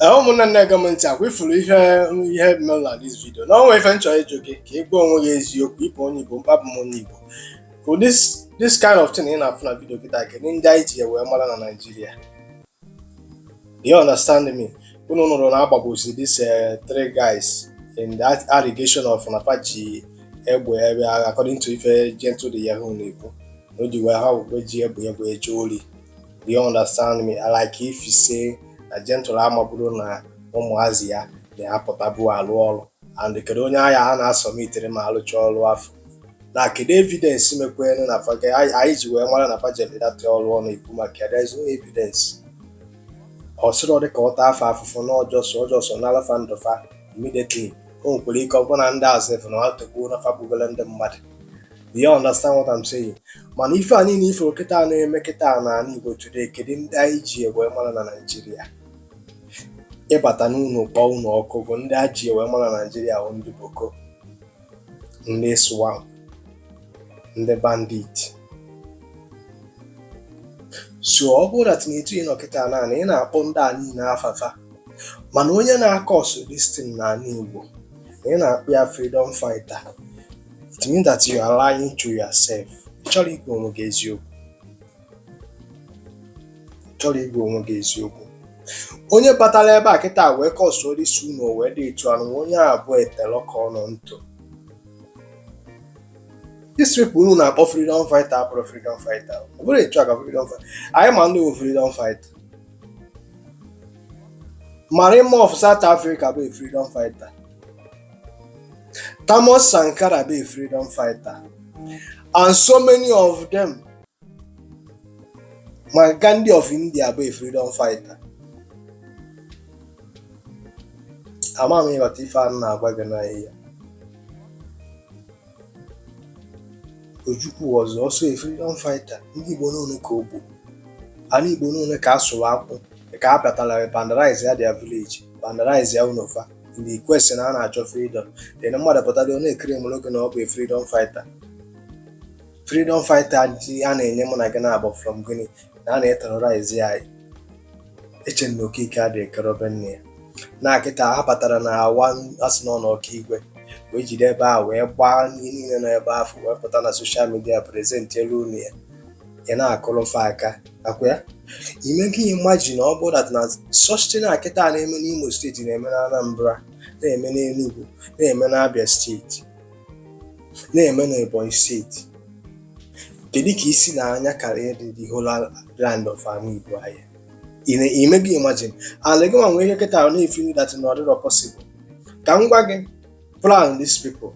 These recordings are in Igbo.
Ee, ụmụnne na-ege m ntị ọkwa ị fụrụ ihe ihe mere na this vidio nụnwa ife m chọrọ ịjụ gị ka ị gwa onwe gị eziokwu ị bụ onye Igbo maka abụ m onye Igbo ka this this kind of thing ị na-afụ na vidio kịta kedu ndị anyị ji ya wee mara na Naịjirịa You understand me? Unu nụrụ na a gbagbusi this eh, three guys in that allegation of na fa ji egbe according to ife Gentle De Yahoo na-ekwu na o ji wee ha wee ji egbe egbe eje ori. Do you understand me? I like if you say na Gentle amaburu na ụmụazị a na-apụtabu alụ ọrụ and kedu onye agha ha na-asubmitere ma a lụcha ọrụ afụ na kedu evidence mekwere na fa ga- anyị anyị ji wee mara na fa jere that ọrụ ọ na-ekwu maka ya there is no evidence ọ sịrị ọ dị ka ọ taa fa afụfụ na o ji ọsọ o ji ọsọ nala fa ndụ fa immediately o nwekwara ike ọ bụrụ na ndị azụ efu na ọ togbuo na fa gbugolo ndị mmadụ Do you understand what I'm saying? mana ife a niile ị fụ kịta a na-eme kịta a n'ala Igbo today kedu ndị anyị ji wee mara na Naịjirịa ịbata n'ụlọ kpọọ ụlọ ọkụ bụ ndị a ji wee mara na Naịjirịa bụ ndị Boko ndị ISWAP ndị bandit so ọ bụrụ na that n'etu ị nọ kịta na ị na-akpọ ndị a niile afa fa mana onye na-acause this thing n'ala Igbo na ị na-akpọ ya freedom fighter it means that you are lying to yourself ị chọrọ ịgwa onwe gị eziokwu onye batara ebe a kịta wee causeọ isi unu wee dị etu anụ onye a bụ etela ọka ọnụ ntụ these people unu na-akpọ freedom fighter abụrọ freedom fighter ọ bụrọ etu a ka freedom fighter anyị ma ndị bụ freedom fighter Mandela of South Africa bụ freedom fighter Thomas Sankara bụ freedom fighter and so many of them ma Gandhi of India bụ a freedom fighter ama m ị ghọta ife a na-agwa gị n'ihe a Ojukwu was also a freedom fighter ndị Igbo n'one ka o gburu ana Igbo n'one ka a sụrụ ọkụ ka a pụtara vandalize ya their village vandalize ya ụnọ fa in the question na a na-achọ freedom then mmadụ pụtara ọ na-eclaimụrụ gị na ọ bụ a freedom fighter freedom fighter ji a na-enye mụ na gị na-abụ from gịnị na a na-eterọraizi ya eche na okike adịghị ekerobe nne ya na kịta ha batara na awa asị na ọnụ Okigwe wee jide ebe a wee gbaa ihe niile nọ ebe afụ wee pụta na soshal midia prezentielu unu ya ị na-akụrụ fa aka ọkwa ya ime gị imagine ọ bụ dat na such thing kịta na-eme n'Imo steeti na-eme na Anambra na-eme n'Enugu na-eme n'Abia steeti na-eme n'Ebonyi steeti kedu ka i si na anya karịa dị the whole land of Ani Igbo anyị a ime gị imagine ala gị nwa nwee ihe kịta ahụ na-efili that na ọ dịrọ possible ka m gwa gị plan these people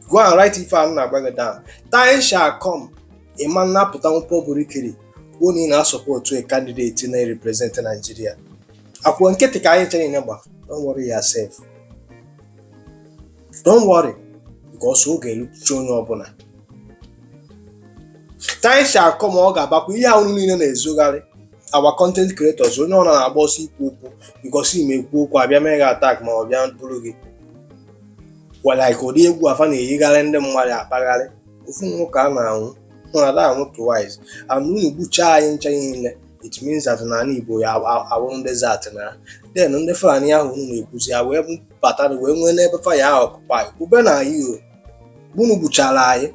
go and write ife a m na-agwa gị down time shall come ị ma na-apụtanwu publicly kwuo na ị na-asọpọtụ a candidate na-represent Nigeria ọkwa nkịtị ka anyị ncha na-agba don't worry yourself don't worry because ọ ga-erucha onye ọbụla time shall come ọ ga-abakwa ihe ahụ niile na-ezogharị our content creators onye ọbụla na-agba ọsọ ikwu okwu because ime ekwu okwu a bịa mee gị attack ma ọ bịa buru gị like ụdị egwu a fa na-eyigharị ndị mmadụ akpagharị ofu ọnwụ ka a na-anwụ na a da anwụ twice and unu gbuchaa anyị ncha niile it means that na ala Igbo ya-awụrụ desert and then ndị Fulani ahụ unu na-ekwuzi ya wee bata na wee nwee n'ebe fa ya-occupy ebe n'ani Igbo unu gbuchara anyị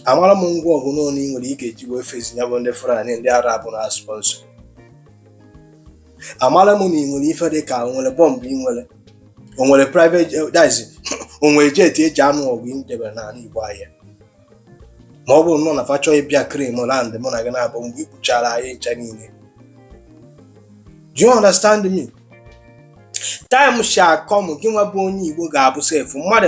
amara m ngwa ọgụ unu ị nwere ị ga-eji wee face ya bụ ndị Fulani ndị Arab na-asponsọ amara m na ị nwere ife dị ka o nwere bọmbụ ị nwere o nwere private eh, dice o nwere jet eji anụ ọgụ i debere n'ala Igbo anyị a ma ọ bụrụnụ na fa chọọ ịbịa claim land mụ na gị na-abụ mgbe ị gbuchara anyị ncha niile do you understand me time shall come gị nwa bụ onye Igbo ga-abụ sef mmadụ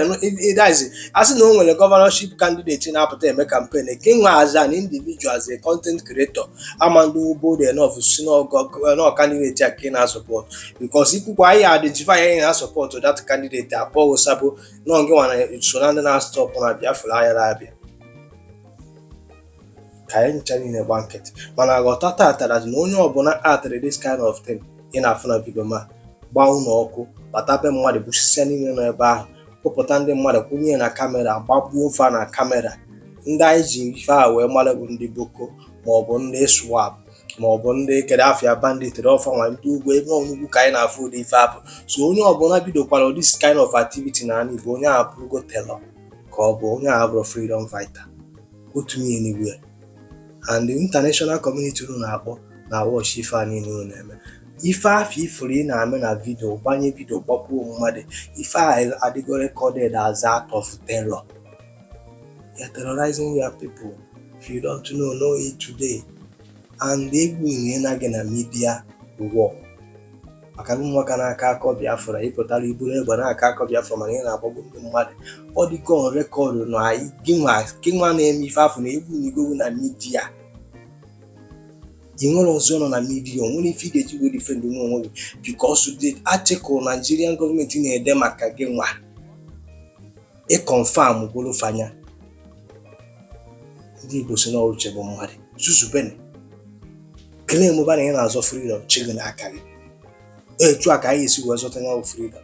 ịdazi a sị na o nwere gọvanọship kandideti na-apụta eme kampen gị nwa as an individual as a content creator ị ma adị bold enough sị na kandideti a ka ị na-asọpọt bikos i kwukwaa ya identify na ị na-asọpọtụ dat kandideti a kpọọ gị sabo na gị nwa na so na ndị na-astọpụ na Biafra ayara abịa ka anyị ncha niile gba nkịtị mana ghọta tata na onye ọbụla aktịrị this kind of thing ị na-afụ na vidio ma gbaa ụlọ ọkụ bata be mmadụ gbusisia niile nọ ebe ahụ kpụpụta ndị mmadụ kwụnye na kamera gbagbuo fa na kamera ndị anyị ji ife a wee mara bụ ndị boko maọbụ ndị ISWAP ma ọ bụ ndị kere afịa banditry ọ fa nwa ndị ugwu ebe ọ n'ugwu ka anyị na-afụ ụdị ife afụ so onye ọbụla bidokwara this kind of activity na ala Igbo onye a abụrụgo terror ka ọ bụ onye a abụrọ freedom fighter otu ihe anywhere and the international community unu na-akpọ na-awọchị ife a niile unu na-eme ife afụ ị fụrụ ị na-eme na vidio gbanye vidio gbagbuo mmadụ ife a adịgo recorded as act of terror You are terrorizing your people. If you don't know, know it today. And egwu ihe na gị na media war maka ndị nwoke na-aka akọ Biafra ị pụtara i buru egbe n'aka akọ Biafra mana ị na-agbagbu ndị mmadụ ọ dịka on record na anyị gị nwa na-eme ife afụ na egwu na igowu na media ị nwere ọzọ nọ na media nwere ife ị ga-eji wee defend onwe gị because the article Nigerian government na-ede maka gị nwa ị confirm golo fa nya ndị Igbo sị na ọ wụ uche bụ mmadụ zuzube na-eclaimụba na ị na-azọ freedom chi gị n'aka gị etu a ka anyị esi wee zọta ya bụ freedom